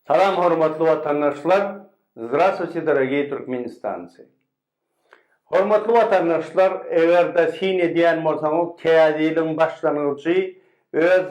Salam hormatly watandaşlar Zdrastwuyte dorogiý Türkmenistancy Hormatly watandaşlar egerde syn edýän bolsaňyz täze ýylyň başlangyjy öz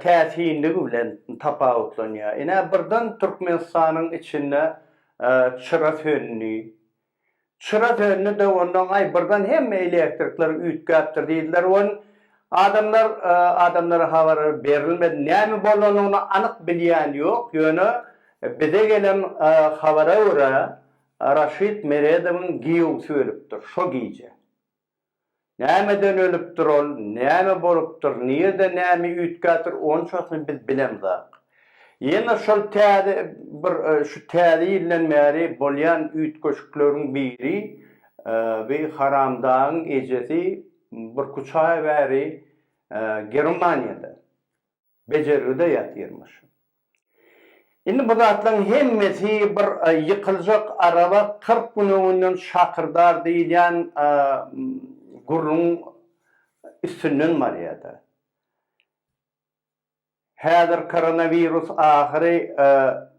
täsinligi bilen tapawutlanýar ine birden Türkmenistanyň içinde çyra söndi Çyra söndi de ondan aý birden hemme elektrikler üýtgäpdir diýdiler wen adamlar adamlara habar berilmedi näme bolanyny anyk bilýän ýok ýöne bize gelen habara görä Raşid Meredowyň giýewsi ölüpdir şo gije. Nämeden ölüpdir ol, näme bolupdyr, nirde näme üýtgäpdir, onçasyny biz bilemzok. Ýene şol täze bir şu täze ýyldan bäri bolýan üýtgeşikleriň biri, bi haramdagyň ejesi Burkuçaýew äri Germaniýada. Bejergide ýatyrmyş. Indi bu zatlaryň hemmesi bir ýykyljak araba kyrk gün öňünden şakyrdar diýilýän gürrüň üstünden barýar-da. Häzir koronawirus ahyry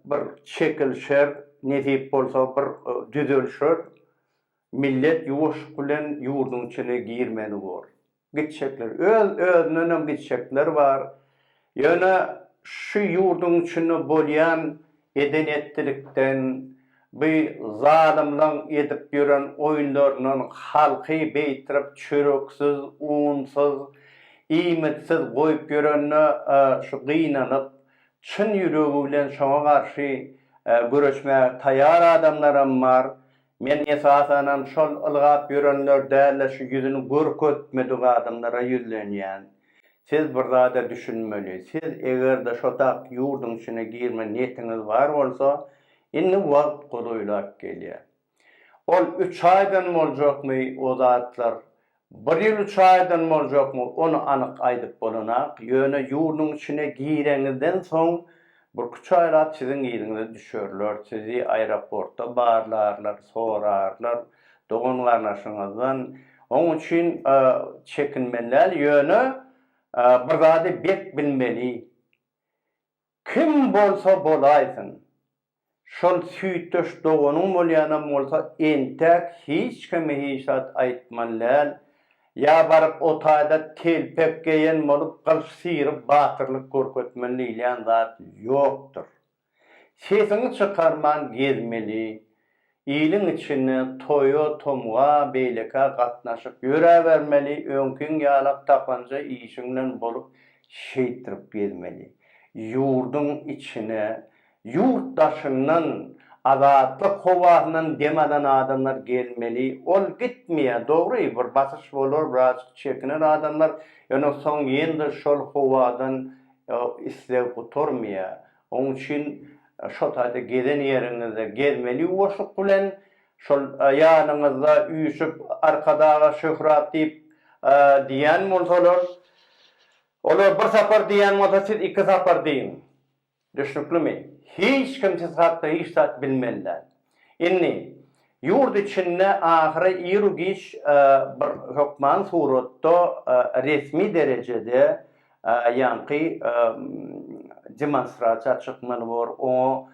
bir çekilişer, nesip bolsa bir düzelişer, millet ýuwaşlyk bilen ýurduň içine girmeli bor. gitjekler. Öz özündenem gitjekler bar. Ýöne şu ýurduň içinde bolýan eden etdilikden, bu zalymlaň edip ýören oýunlaryndan halky beýtirip çöreksiz, unsyz, iýmitsiz goýup ýörende şu gynanyp, çyn ýüregi bilen şoňa garşy göreşmäge taýar adamlaram bar. Men esasanam şol ylgap ýörenler däl-de şu ýüzüni görkezmedik adamlara ýüzlenýän. Siz bir zada düşünmeli. Siz eger-de şotak ýurduň içine girme niýetiňiz bar bolsa, indi wagt godaýlap gelýär. Ol üç aýdan boljakmy o zatlar Bir ýyl üç aýdan boljakmy, ony anyk aýdyp bolanak, ýöne ýurduň içine gireňizden soň, birküç aýlap siziň yzyňyza düşerler, sizi aeroportda barlarlar, sorarlar, dogan-garnaşyňyzdan. Oň üçin çekinmeli däl, ýöne bir zady berk bilmeli, Kim bolsa bolaýsyn, şol süýtdeş doganyň bolýanam bolsa entäk hiç kime hiç zat aýtmaly däl, ýa baryp o taýda telpek geýen bolup gylyç syryp batyrlyk görkezmeli diýilýän zat ýokdur. Sesiňi çykarman gezmeli, Iliň içinde toýa tomga beýlekä gatnaşyp ýöräbermeli öňkiň ýalak tapanja işiň bilen bolup şeýtdirip gezmeli ýurdyň içine ýurt daşyndan azatlyk howasyndan dem alan adamlar gelmeli ol gitmeýä dogry bir basyş bolar birazjyk çekiner adamlar ýöne soň ýene-de şol howadan isleg gutarmaýa Onuň üçin şo taýda gezen ýeriňizde gezmeli ýuwaşlyk bilen, şol ýanyňyzda üýşüp Arkadaga Şöhrat diýip diýýän bolsalar, olar bir sapar diýýän bolsa siz iki sapar diýiň. Düşnüklimi? Hiç kim siz hakda hiç zat bilmeli däl. Indi, ýurt içinde ahyry iru-giç bir hökman suratda resmi derejede ýaňky demonstrasiýa çykmaly bor, oňa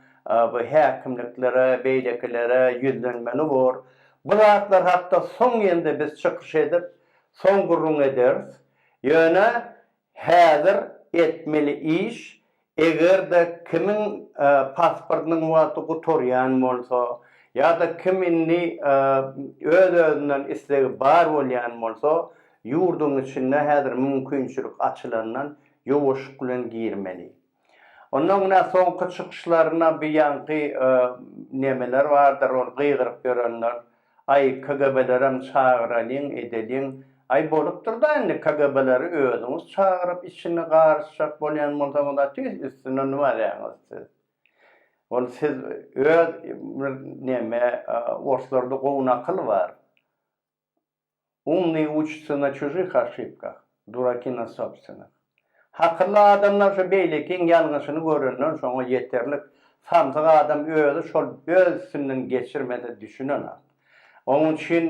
bu häkimliklere, beýlekilere ýüzlenmeli bor. Bu zatlar hakda soň ýende biz çykyş edip, soň gürrüň ederis. Ýöne Häzir etmeli iş, eger-de kimiň pasportynyň wagty gutarýan bolsa, ýa-da kim indi öz-özünden islegi bar bolýan bolsa, ýurduň içinde häzir mümkinçilik açylandan ýowaşlyk bilen girmeli. Ondan günä soňky çykyşlaryna bir ýaňky nemeler bardyr ol gygyryp ýörenler, Aý KGB-lerem çagyralyň, edeliň. Aý bolupdyr-da indi KGB-leri özüňiz çagyryp içini garyşjak bolýan bolsaňyz-a tüýs üstüne nümäleňiz siz. Ol siz öz bir neme orslarda gowy nakyl bar. Umnyý uçucy na çužih oşibkah, duraki na sobstvenih. Hakylly adamlar şu beýlekiň ýalňyşyny görenden soňa ýeterlik, samsyk adam özi şol öz üstünden geçirmese düşünenak. Onuň üçin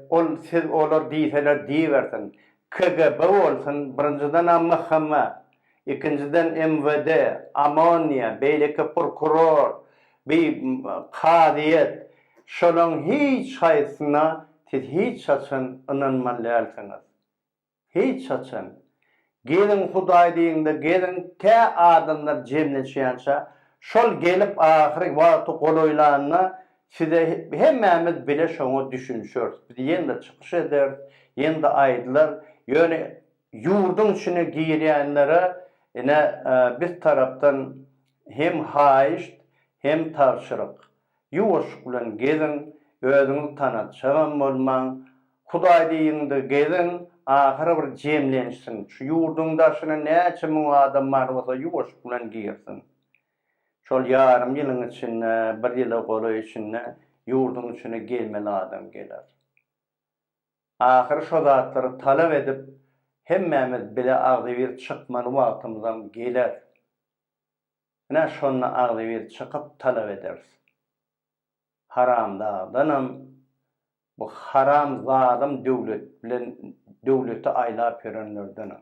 ol siz olar diýseler diýibersin. KGB bolsun, birinjidenam MHM Ikinjiden MWD, OMONIA, beýleki prokuror, bi kazyýet şolaň hiç haýsyna siz hiç haçan ynanmaly dälsiňiz. Hiç haçan. Geliň Hudaý diýiňde geliň tä adamlar jemleşýänçä şol gelip ahyry wagty golaýlanda size hemmämiz bile şoňa düşünişeris. Biz ýene-de çykyş ederis, ýene-de aýdylar. Ýöne Ýurduň içine girýänlere ine biz tarapdan hem haýyşt hem tabşyryk, ýuwaşlyk bilen geziň, özüňizi tanatjagam bolmaň, Hudaý diýiňde geziň, ahyry bir jemlenişsin, şu ýurduň daşyna näçe müň adam bar bolsa ýuwaşlyk bilen girsin. Şol ýarym ýylyň içinde, bir ýyla golaý içinde ýurduň içine gelmeli adam geler. Ahyry şo zatlary talap edip hemmämiz bile agzybir çykmaly wagtymyzam geler. Ine şonda agzybir çykyp talap ederis. Haramdagdanam bu haram zalym döwlet bilen döwleti aýlap ýörenlerdenem.